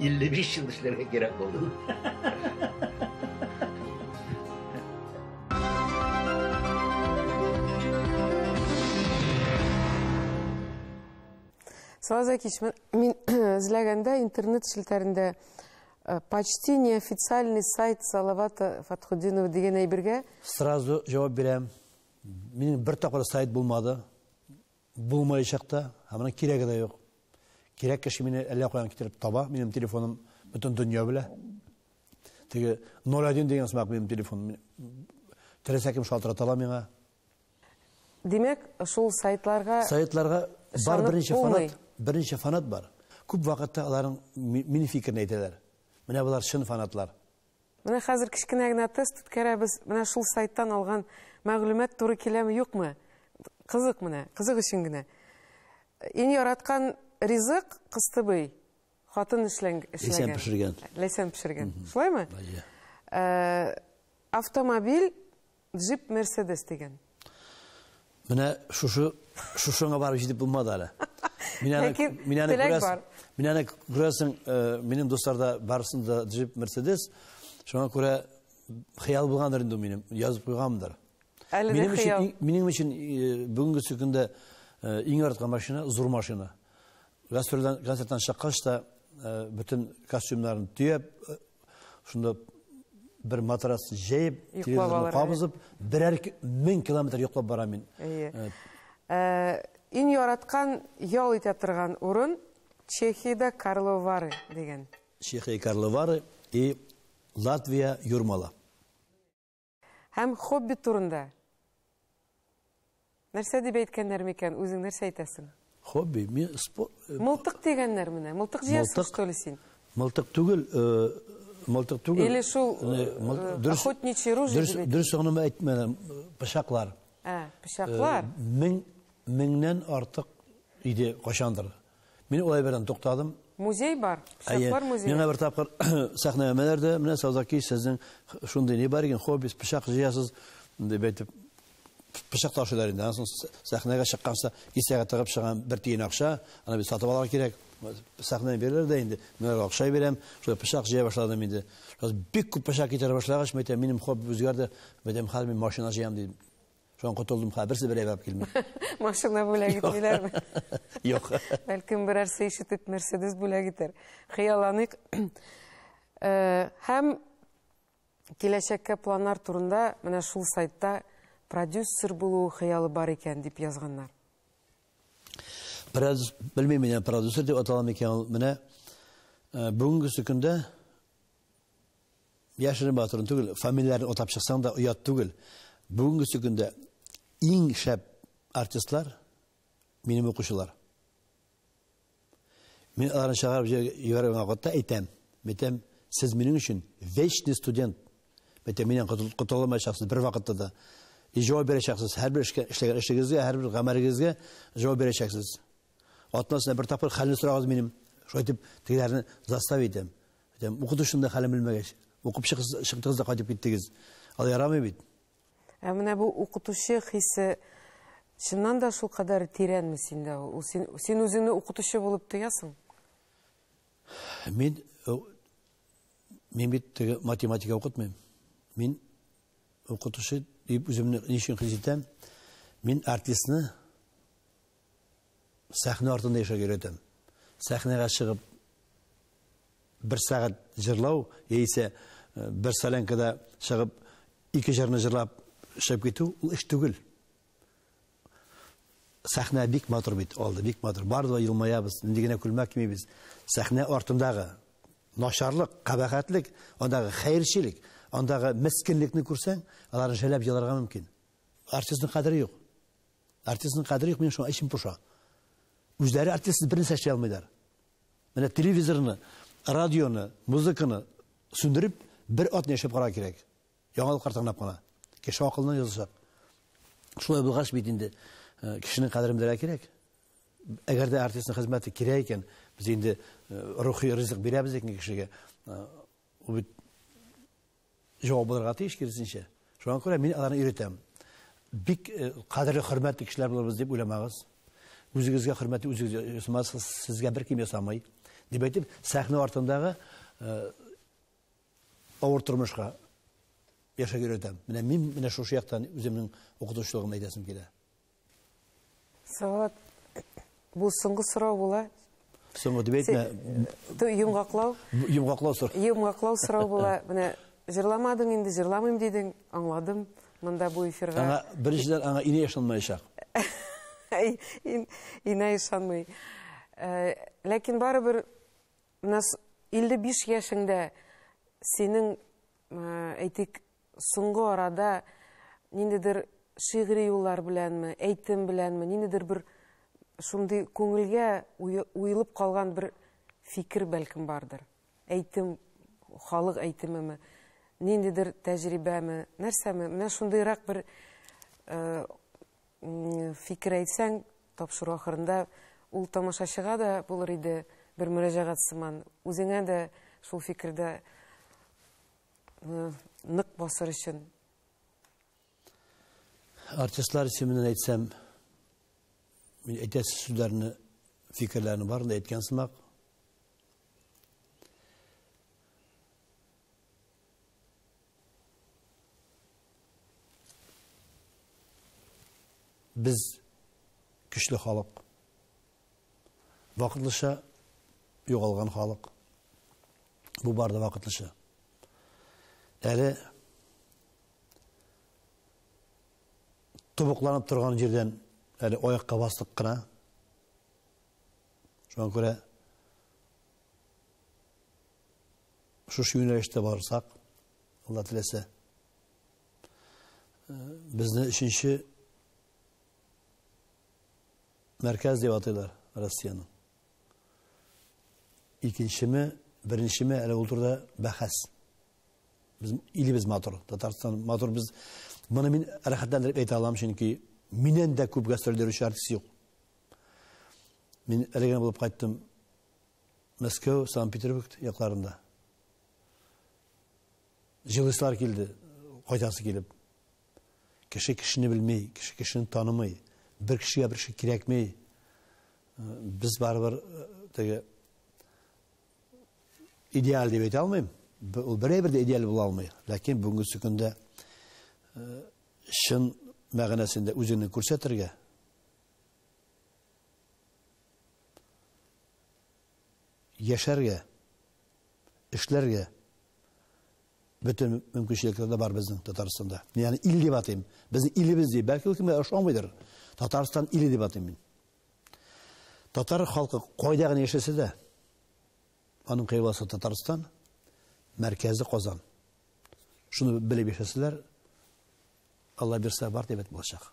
Speaker 1: 55 ел эшләргә кирәк булды. Сразу кичмен, мин эзләгәндә интернет челтәрендә э, почти неофициальный сайт Салавата Фатхудинова дигән әйбергә. Сразу җавап бирәм. Минем бер тапкыр сайт булмады. Булмаячак та, һәм аның кирәге дә юк. Кирәк кеше мине әллә каян китереп таба, минем телефоным бөтен дөнья белә. Теге 01 дигән сымак минем телефон. Теләсә кем шалтырата ала миңа. Димәк, шул сайтларга Сайтларга бар берничә фанат, берничә фанат бар. Күп вакытта аларның минем фикерне әйтәләр. Менә болар чын фанатлар. Менә хәзер кечкенә генә тест үткәрәбез. Менә шул сайттан алган мәгълүмат туры киләме, юкмы? Кызык менә, кызык өчен генә. Иң яраткан ризык кыстыбый хатын эшләнгән. Ләйсән пешергән. Ләйсән пешергән. Шулаймы? Автомобиль Джип Мерседес дигән. Менә шушы шушыңа барып җитеп булмады әле. Мин аны Ләкин мин аны теләк күрәсең. бар. Мин аны күрәсең, э, минем дусларда барысын да джип Мерседес. Шуңа күрә хыял булгандыр инде ул минем, язып куйганмдыр. Әле дә Минем өчен хыял. иң- минем өчен э, бүгенге көндә э, иң яраткан машина зур машина. Гастрольдән, концерттан чыккач та, бөтен костюмнарын төяп, шунда бер матрас җәеп, телевизорны кабызып, берәр мең километр йоклап барам мин. Иң яраткан ял итә торган урын Чехиядә Карловары дигән. Чехия Карловары и Латвия Юрмала. Һәм хоббит турында. Нәрсә дип әйткәннәр микән, үзең нәрсә әйтәсең? Хобби, мин спорт... Э, мылтык дигәннәр менә, мылтык җыярсың, что ли, син? Мылтык түгел, э, мылтык түгел. Или шул э, охотничий ружье дип әйтә. Дөрес генә әйтмәдем, пычаклар. Ә, пычаклар. Мең, меңнән артык иде кашандыр. Мин улай бердән туктадым. Музей бар, пычаклар музее. Миңа бер тапкыр сәхнәләмәләр дә, менә Саузаки, сезнең шундый ни бар икән, хоббис, пычак җыясыз, дип әйтеп, пычак ташыйлар инде. Ансын сәхнәгә чыкканча кисәгә тыгып чыган бер тиен акча, аны бит сатып алырга кирәк. Сәхнә бирер дә инде, мин акча бирәм, шулай пычак җыя башладым инде. Бик күп пычак китерә башлагач, мәйтәм, минем хобби үзгәрде, мәйтәм, хәзер мин машина җыям, дип Шудан котылдым, ха, берсе бер әйбәп килми. Машина бүләк итмиләрме? Юк. Бәлкем берәрсе ишетеп Мерседес бүләк итәр. Хыялланыйк. Э, һәм киләчәккә планнар турында менә шул сайтта продюсер булу хыялы бар икән дип язганнар. Продюс, белмим, менә продюсер дип аталам икән ул. Менә э, бүгенге көндә Яшерен батырын түгел, фамилияләрен атап чыксаң да оят түгел. Бүгенгесе көндә иң шәп артистлар минем укучылар. Мин аларны чыгарып җибәргән вакытта әйтәм, мәйтәм, сез минем өчен вечный студент. Мәйтәм, миннән котылмаячаксыз бер вакытта да. И җавап бирәчәксез һәрбер эшкә, эшләгән эшегезгә, һәрбер гамәлегезгә җавап бирәчәксез. Атнасына бер тапкыр хәлне сорагыз минем. Шулай дип, тегеләрне застав итәм. Әйтәм, укыту шунда хәлен белмәгәч. Укып чыктыгыз да кайтып киттегез. Ал ярамый бит. Ә менә бу укытучы хисе чыннан да шул кадәр тирәнме синдә ул? Син, син үзеңне укытучы булып тоясың? Мин, э, мин бит математика укытмыйм. Мин укытучы дип үземне ничек хис итәм? Мин артистны сәхнә артында яшәргә өйрәтәм. Сәхнәгә чыгып бер сәгать җырлау, яисә бер солянкада чыгып ике җырны җырлап эшләп китү, ул эш түгел. Сәхнә бик матур бит, алды бик матур. Барды да елмаябыз, нинди генә күлмәк кимибез. Сәхнә артындагы начарлык, кабахәтлек, андагы хәерчелек, андагы мескенлекне күрсәң, аларны жәлләп еларга мөмкин. Артистның кадере юк. Артистның кадере юк, минем шуңа эчем поша. Үзләре артист бер нәрсә эшли алмыйлар. Менә телевизорны, радионы, музыканы сүндереп, бер атны яшәп карарга кирәк. Яңалыклар тыңлап кына. Кеше акылына язылсак. Шулай булгач бит инде э, кешенең кадерен белергә кирәк. Әгәр дә артистның хезмәте кирәк икән, без инде э, рухи ризык бирәбез икән кешегә. Э, ул бит җавап булырга тиеш, киресенчә. Шуңа күрә мин аларны өйрәтәм. Бик э, кадерле, хөрмәтле кешеләр булабыз дип уйламагыз. Үзегезгә хөрмәтле үзегез ясамасыз, сезгә беркем ясамый. Дип әйтеп, сәхнә артындагы э, авыр тормышка яшәп өйрәтәм. Менә мин менә шушы яктан үземнең укытучылыгымны әйтәсем килә. Салават, бу соңгы сорау була. Соңгы дип әйтмә. Ты йомгаклау. Йомгаклау сорау. Йомгаклау сорау була. Менә җырламадың инде, җырламыйм дидең, аңладым. Монда бу эфирга. Аңа беренчедән аңа ине ышанмаячак. Инә ышанмый. Э, ләкин барыбер менә 55 яшеңдә синең э, әйтик Соңгы арада ниндидер шигъри юллар беләнме, әйтем беләнме, ниндидер бер шундый күңелгә уелып калган бер фикер бәлкем бардыр. Әйтем, халык әйтемеме, ниндидер тәҗрибәме, нәрсәме? Менә шундыйрак бер э, фикер әйтсәң, тапшыру ахырында ул тамашачыга да булыр иде бер мөрәҗәгать сыман, үзеңә дә шул фикердә нык басыр өчен. Артистлар исеменнән әйтсәм, мин әйтәсе сүзләрне, фикерләрне барын да әйткән сымак. Без көчле халык. Вакытлыча югалган халык. Бу бары да вакытлыча. Әле тубыкланып торган җирдән әле аякка бастык кына. Шуңа күрә шушы юнәлештә барсак, Алла теләсә, безне өченче Мәркәз дип атыйлар Россиянең. Икенчеме, беренчеме, әле ул турыда бәхәс. Без илебез матур, Татарстан матур. Без моны мин рәхәтләндереп әйтә алам, чөнки миннән дә күп гастроль йөрүче артист юк. Мин әле генә булып кайттым Мәскәү, Санкт-Петербург якларында. Җылыслар килде, кайтасы килеп. Кеше кешене белми, кеше кешене танымый. Бер кешегә бер кеше кирәкми. Без барыбер теге идеаль дип әйтә алмыйм. Ул берәй бер дә идеаль була алмый. Ләкин бүгенге көндә чын мәгънәсендә үзеңне күрсәтергә, яшәргә, эшләргә, Бөтен мөмкинчелекләр дә бар безнең Татарстанда. Мин аны ил дип атыйм. Безнең илебез дип. Бәлки ул кемгә ошамыйдыр. Татарстан иле дип атыйм мин. Татар халкы кайда гына яшәсә дә, аның кыйбласы Татарстан, мәркәзе Казан. Шуны белеп яшәсәләр, Алла бирсә бар дәүләт булачак.